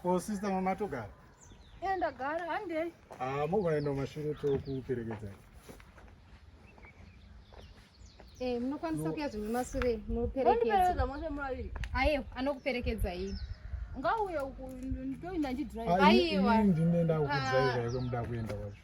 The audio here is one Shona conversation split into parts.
Ko sister mama togara? Eh ndagara handei. Ah mogona enda mashure tokuperekedzai. Eh munokwanisa kuya zvimwe masure muperekedza. Muperekedza mose maviri. Ayo anokuperekedzai. Ngauye uku ndoinda ndidrive. Aiwa. Ndine ndakudzai zvaiko muda kuenda kwacho.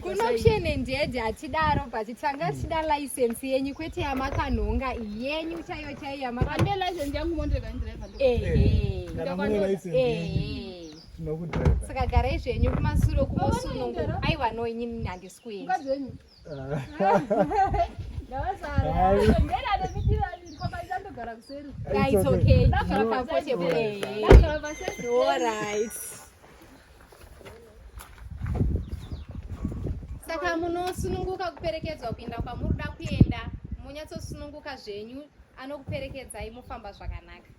kunokushenendedi hatidaro but tanga tichida license yenyu kwete yamakanhonga yenyu chaiyo chaiyo yamakanhonga saka garai zvenyu kumasuro kumosunungu aiwa no inini handisi kuenda saka munosununguka kuperekedzwa kuenda kwamuri da kuenda monyatsosununguka zvenyu anokuperekedzai mofamba zvakanaka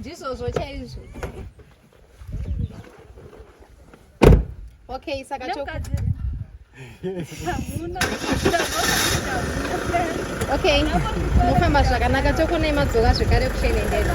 ndizvozvo chaizvo okay saka okay mofamba zvakanaka tokonai madzoka zvekare kuchenendera